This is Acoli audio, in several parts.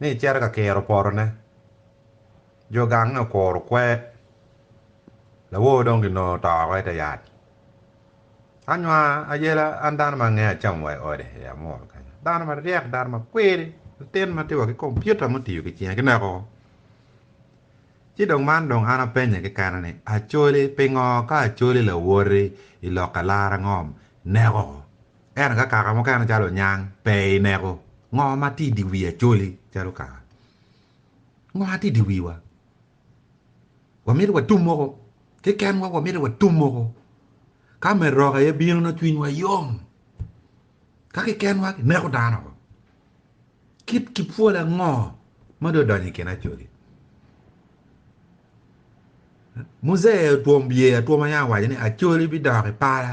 ni ecito ka kiro potone. Jo gange okuro kwer. Lawor dong ginongo oto woko i te yat. Anywa ayela an dano ma angeyo acamo wa i ode i Amuru kenyo. Dano maryek, dano makwiri, latin ma tye wa ki kompiuta mutiyo ki cinge kineko woko. Ci dong man dong an apenye kekena ni, Acholi, pingo ka acholi lawoti i lokke lara ngom neko? Ento ka kaka mukene calo onyang pe i neko, ngo ma tye i dye wii Acholi calo kara? Ngo ma tye i dye wii wa? Wamito watum moko keken wa, wamito watum moko ka me roka aye bino nongo cwiny wa yom. Ka keken wa kineko dano oko. Kit ki pwol ango ma dong odonyo i kin Acholi? Muzee otwom bye atwoma yam owaco ni Acholi bidok i pala.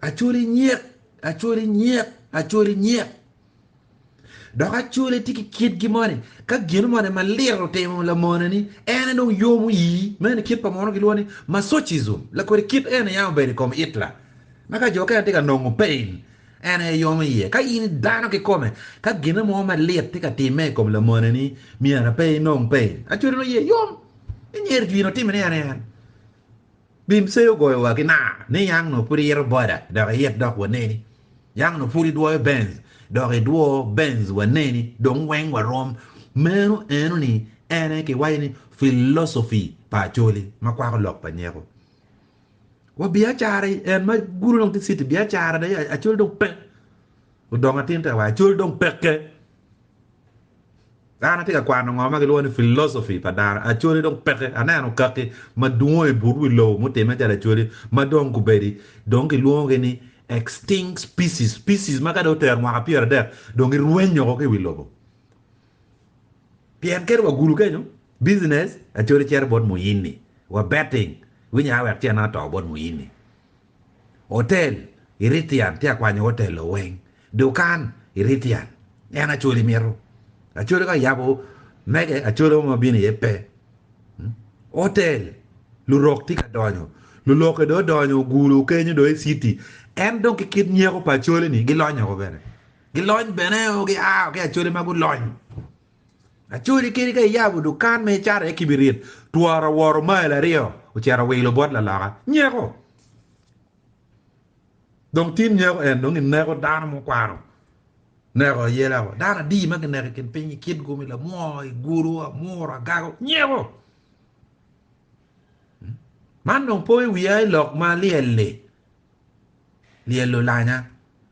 Acoli nyek, acoli nyek, acoli nyek. Dok acoli tye ki kitgi moni, ka gino moni malit otimo lamoneni, en aye dong yomo ii. Meno kit pa mono gilwongo ni masochism, lakodi kit eni yam obedo i kom Hitler. Ma ka jo okene tye ka nongo pain, en aye yomo iye. Ka in idano kikome, ka gino mo malit tye ka timme i kom lamoneni, myero pe inong pain. Acoli nongo iye yom, inyer jwino timmi ni en aye en. Bim Cey ogoyowa ki naa ni yang nongo pud iyito boda dok iyit dok waneni, yang nongo pud idwoyo Benz dok idwo Benz waneni dong weng warom. Meno eno ni en aye kiwaco ni philosophy pa Acholi ma kwako lok pa nyeko. Wa biacara en ma gudo dong tye city biacara dong Acholi dong pe. Odong atin te wa, Acol dong pekke. An atye ka kwano ngo ma gilwongo ni philosophy pa dano. Acoli dong pekke. Aneno kaki ma dwong i but wi lobo mutimme calo acoli ma dong gubedi dong gilwongogi ni extinct species, species ma ka dong otero mwaka pyeradek dong girwenyo woko ki i wi lobo. Pien kene wa gulu kenyo business, acoli cito bot muyinni, wa betting, winya wek cen ato bot muyinni. Otel, i Rithian tye akwanyo otel o weng. Dukan, i Rithian en Acholi mito. Acholi ka yabo mege, Acholi mo ma bino iye pe. Otel, lurok tye ka donyo, lulokke dong odonyo ogulu kenyo dong i city. En dong ki kit nyeko pa Acholi-ni gilonyo woko bene. Gilony bene o, gia woko ki Acholi ma gulony. Acoli kadi ka iyabo dukan ma icato iye kibirit, twara owoto mail aryo ocito owilo bot laloka. Nyeko! Dong tin nyeko en dong ineko dano ma okwano neko aye lako. Dano adi ma kineko i kin piny i kitgu mi lamwo, i gulu, amuru, agago? Nyeko! Man dong po i wiya i lok ma lyel-li. lyelo lanya.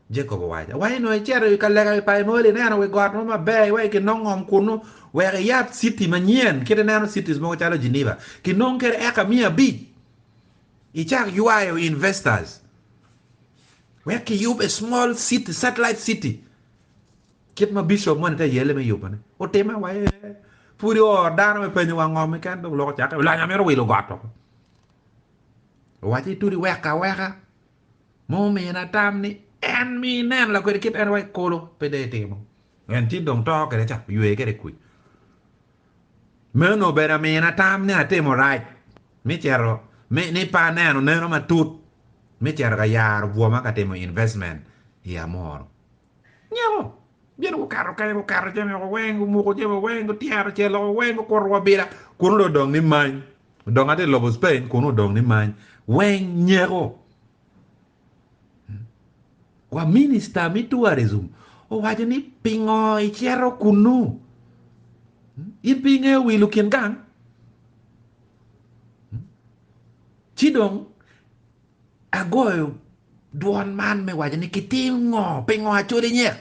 Jacob owaco, Wa inongo icito i ka lega i pa Enoel ineno wi got mo maber iweko ki nongo ngom kunnu, wek iyab citi manyen, kit ineno cities mogo calo Geneva, ki nongo kede eka miya abic, icak ywayo investors, wek ki yub a small city, satellite city, kit ma bishop moni te yelle me yubo ne. Otime wa ee, pudi oo, dano me penyo wa ngom keken, dong lok ocake, lanya mito wilo got oko. Owac ni, Todi wek aweka ma omina tam ni en mi inen lakwede kit en wa i kolo, pe dee timo. En ci dong to kede ca, ywe kede kwi. Meno obedo amina tam ni atimo rac, mi cito, mi, ni pe aneno neno matut, mi cito ka yaro bwoma ka timo investment i Amoro. Nyeko, gin gukato kany, gukato jami woko weng, gumuko jami woko weng, gutyero cel woko weng, gukuto wa bila. Kuno dong odong ni many. Dong ati i lobo Spain, kuno odong ni many. Weng nyeko. Wa minista mi tourism owaco ni pingo icito kunu? In pe ingeyo wilo kin gang? Ci dong Agoyo dwon man me waco ni kitim ngo? Pingo acoli nyek?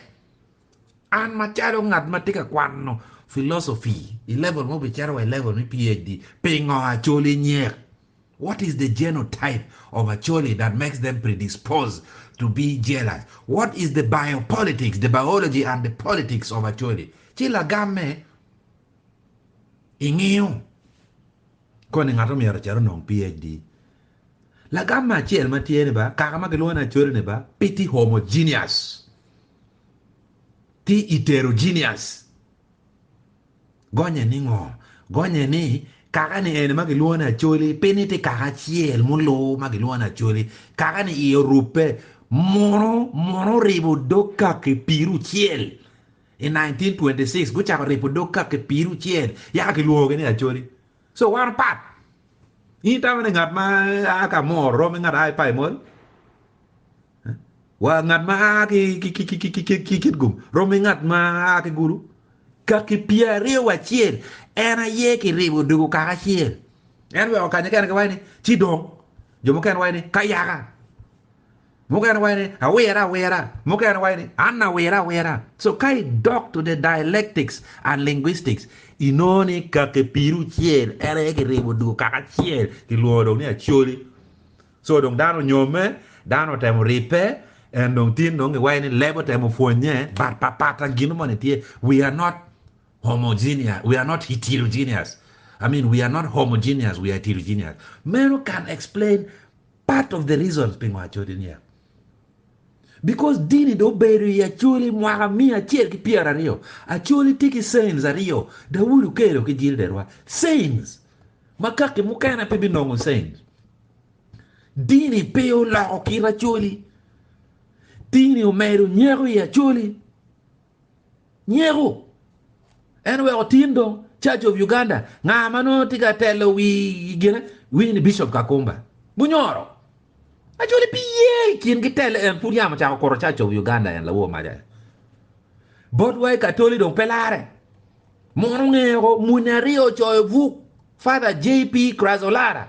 An macalo ngat ma tye ka kwano philosophy i level ma obicito wa i level me PHD, pingo acoli nyek? What is the genotype of acholi that makes them predisposed to be jealous? What is the biopolitics, the biology and the politics of acholi? Ci lagamme ingiyo koni ngat omyero ocit onong PHD? Lagam-ma acel ma tye ni ba kaka ma kilwongo ni Acholi-ni ba pe tye homogeneous, tye heterogeneous. Gonye ni ngo? Gonye ni kaka ni eni ma kilwongo ni Acholi pe ni tye kaka acel muluu ma kilwongo ni Acholi, kaka ni iye orubbe, muno muno oribo dog kaki pirucel. I 1926 gucako ribo dog kaki pirucel yaka kilwongogi ni Acholi. So wan opat. In itamo ni ngat ma a ka Amor rom ki ngat ma a ki Paimol? Wa ngat ma a ki Kitgum rom ki ngat ma a ki Gulu? Ka kipye aryo wa acel, en aye kiribo odoko kaka acel. En bene wa kanya kene giwaco ni ci dong. Jo mukene waco ni ka yaka. Mukene waco ni, Awire awira. Mukene waco ni, An awire awira. So ka i dok to the dialectics and linguistics, i nongo ni kaki piri ocel en aye ki ribo dugo kaka acel ki lwongo dong ni Acholi. So dong dano onyomme, dano otemo ripe, en dong tin dong ki waco ni leb otemo pwonye, but pa pata gino moni tye, we are not homogeneous, we are not heterogeneous, I mean we are not homogeneous, we are heterogeneous. Meno can explain. Part of the reasons pingo acode niya, because dini dong obedo i Acholi mwaka miya acel ki pyera aryo, Acholi tye ki saints aryo, Dawood Okello ki Jill Derwa, saints ma kaki mukene pe binongo saints. Dini pe oloko kit Acholi, dini omedo nyeko i Acholi. Nyeko en oweko tin dong Church of Uganda nga ma nongo tye ka telo wi gine iwinyo ni Bishop Kakumba gunyoro Acholi pi ye i kin ki telo en pud yam ocako kuro Church of Uganda en lawor mac aye botwa i Katoli dong pe lare mono ngeko muni aryo ocoyo buk Father JP Crazolara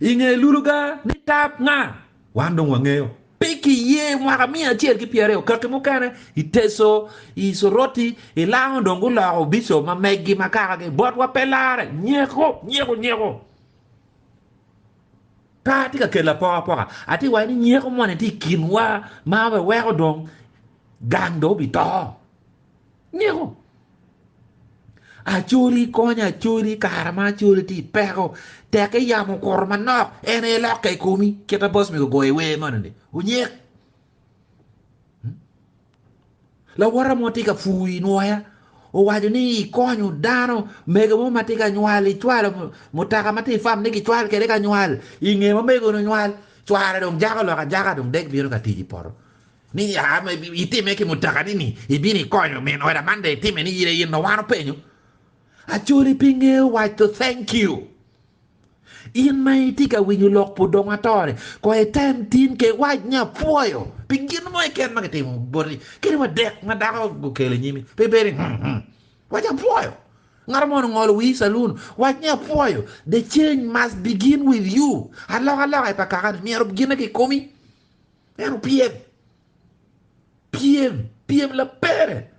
i nge luluga ni tab nga? Wan dong wangeyo. Pe kiye mwaka miya acel ki pyera aryo kaki mukene i Teso, i Soroti, i Lango dong guloko Bishop ma meggi ma kakagi botwa pe larre. Nyeko, nyeko, nyeko. Pe atye ka kelo apoka apoka. Atye ka waco ni nyeko moni tye i kinwa ma weweko dong gang dong obito. Nyeko. Acoli kony acoli kara ma acoli ti peko tek i yamo kuro manok en aye lokke i komi kita bos mi gogo i wer moni ni unyek. Hmm? Lawota mo ti ka fuu i nwoya owaco ni i konyo dano mege mo ma ti ka nywal i cwalo mutaka ma ti fam ni ki cwal kede ka nywal i nge ma mege ni nywal cwara dong jako lok ajaka dong dek bino ka tiji poto Ni ya ma itime ki mutakani ni ibino ikonyo min oda man dong itime ni ire in owano penyo Acholi pi ngeyo waco thank you. In ma itye ka winyo lok pu dong ato ni ko item tin ke iwac ni apwoyo pi gin mo keken ma kitimo boti kadi wa dek ma dako okelo inyimi pe bedi hmm hmm wac apwoyo. Ngat mo ongolo wii saloon wac ni apwoyo the change must begin with you alokaloka i pa kakani myero gine ki komi. Ento pyem, pyem, pyem labere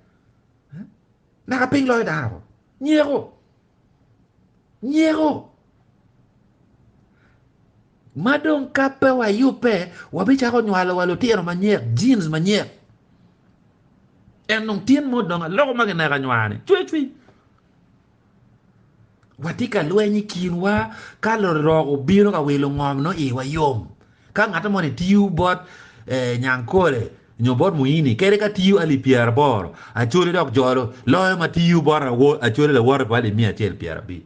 naka piny loyo dano, nyeko, nyeko. Ma dong ka pe wayubbe, wabicako nywalo wa lutino manyek, jeans manyek. En dong tin mo dong aloko ma kineko anywani, cwecwi. Watye ka lweny i kinwa ka lorok obino ka wilo ngom nongo iwa yom. Ka ngat moni tiyo bot eh, Nyankole nyo bot Muini kede ka tiyo alip pyeraboro acoli dok jolo loyo ma tiyo bot awo acoli lawote pa alip miya acel pyerabic.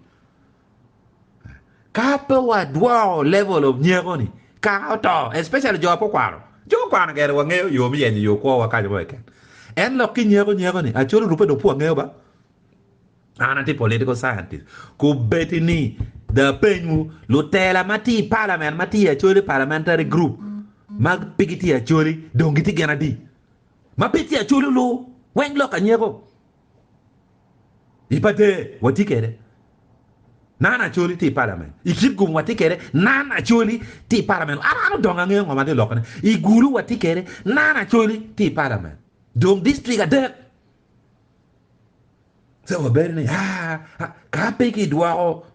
Ka pe wadwoko level of nyeko ni kaka oto especially jo ape okwano jo okwano gere wangeyo yo me yenyo yo kwowa kaco mo keken en lok ki nyeko nyeko ni acoli orube dong pe wangeyo ba An atye political scientist. Kubedi ni dong apenywu, lutela ma tye i palament ma tye Acholi parliamentary group ma pe gitye Acholi dong gitye gin adi? Ma pe tye Acholi olu weng lok anyeko. I pate watye kwede nan Acholi tye i palament. I Kitgum watye kwede nan Acholi tye i palament. An an odongo angeyo ngo ma tye lokone. I Gulu watye kwede nan Acholi tye i palament. Dong district adek So wabedo ni ka pe kidwoko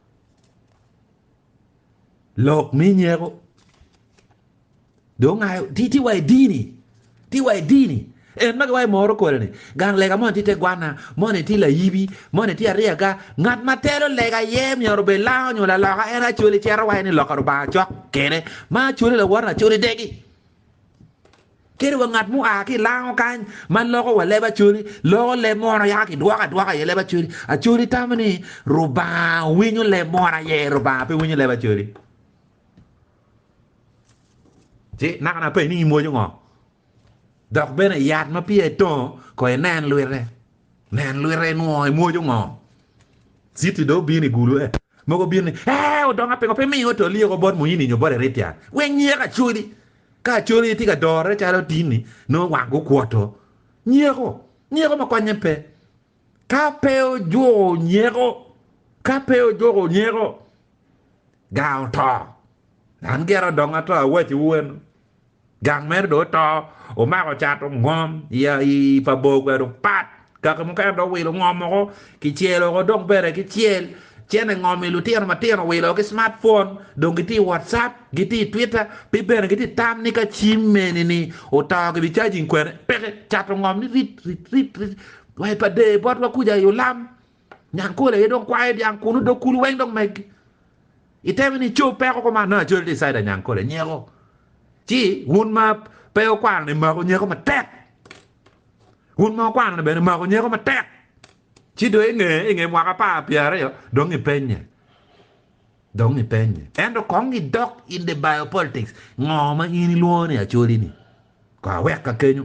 lok me nyeko dong tye wa i dini, tye wa i dini. En ma giwaco moro kodi ni gang lega moni tye te gwanna, moni tye layibi, moni tye aryaga. Ngat ma telo lega iye myero obed lango nyo laloka en aye acwali cito waco ni lok pa Lubanga cok kene ma acwali lawote acwali degi. Kadi wa ngat mua ki i lango kany ma loko wa leb Acholi, loko leb mono yaka ki dwoko adwoka aye leb Acholi. Acholi tamo ni Rubanga winyo leb mono aye Rubanga pe winyo leb Acholi. Ci naka na penyi ni in mwoco ngo? Dok bene yat ma piya i tongo ko i nen lwite. Nen lwite inwongo i mwoco ngo? Citi do obino i gulu eh. Mogo obino ni, ee odonga pingo pe miyo to lyeko bot Muini nyo bot Erithian. Wek nyeka Acholi. Ka cwony aye tye ka dorre calo atinni, nongo wang gukwoto. Nyeko, nyeko ma konye pe. Ka pe ojuko nyeko, ka pe ojuko nyeko, gang oto. An gire odongo ato awaciwu wenu. Gang meno dong oto, omako cat ongom i pa bor kwede opat. Kaka mukene dong wilo ngom oko ki cel oko dong bene ki cel cene ngom i lutino matino wilo ki smartphone dong giti whatsapp giti twitter pi bene giti tam ni ka cim meni ni oto ki bi charging kwene peke cato ngom ni rit rit rit rit wa pa de bot wa kuja i olam nyan kol aye dong kwayo dyang kunu dog kulu weng dong megi iteme ni cow peko kuma no acol ti saida nyan kol anyeko ci wun ma pe okwano ni maku nyeko matek Wun ma wukwano-ni bene maku nyeko matek, ci dong i nge i nge mwaka apar pyeraryo dong ipenye, dong ipenye. Ento kong idok in the biopolitics, ngo ma in ilwongo ni acholi-ni? Kong awek ka kenyo.